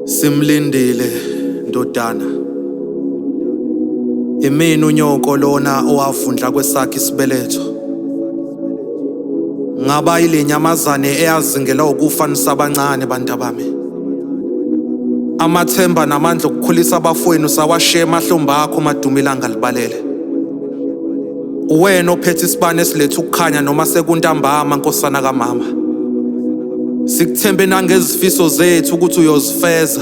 Simlindile ndodana Imina unyoko lona owavundla kwesakhe isibeletho Ngaba ilenyamazane eyazingela ukufa nisabancane bantabami Amathemba namandla okukhulisa abafowenu sawashiya emahlomba akho madumilanga libalele Uwena ophethe isibani esiletha ukukhanya noma sekuntambama nkosana kamama. Sikuthembe nangezifiso zethu ukuthi uyozifeza.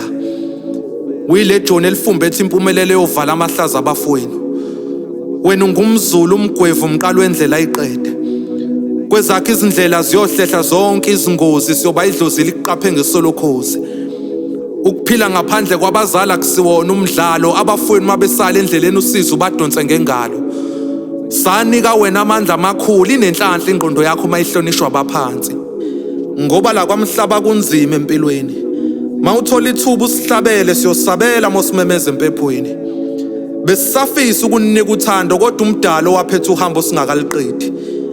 Wile John elifumbethe impumelelo yovala amahlaza abafowenu. Wena ungumzulu umgwevu umqalo wendlela iqede. Kwezakhe izindlela ziyohlehla zonke izingozi siyoba idlozi liqaphe ngesolokhozi. Ukuphila ngaphandle kwabazali akusiwona umdlalo, abafowenu mabesala endleleni usizi ubadonse ngengalo. Sanika wena amandla amakhulu, inenhlanhla ingqondo yakho uma ihlonishwa abaphansi. Ngoba la kwamhlaba kunzima empilweni. Mawuthola ithuba usihlabele siyosabela mosimemeza empephweni. Besisafisa ukunika uthando kodwa umdalo waphetha uhambo singakaliqedi.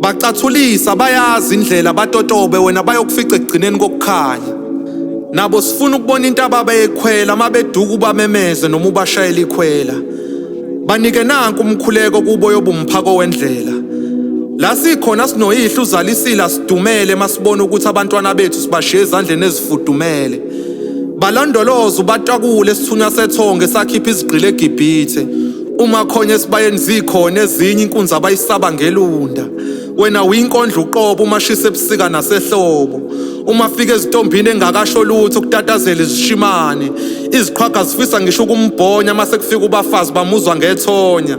bacathulisa bayazi indlela batotobe wena bayokufica ekugcineni kokukhanya nabo sifuna ukubona into ababeyikhwela uma beduka ubamemeze noma ubashayela ikhwela banike nanku umkhuleko kubo yobumphako wendlela la sikhona sinoyihlo uzalisila sidumele masibona ukuthi abantwana bethu sibashiye ezandleni ezifudumele balondoloza ubatakule sithunywa sethonge sakhipha izigqile egibhithe Uma khona esibayeni zikhona ezinye inkunzi abayisaba ngelunda. Wena winkondla uqobo uma shisa ebusika nasehlobo. Uma fika ezitombini engakasho lutho kutatazela izishimane. Iziqhwaga zifisa ngisho ukumbhonya uma sekufika ubafazi bamuzwa ngethonya.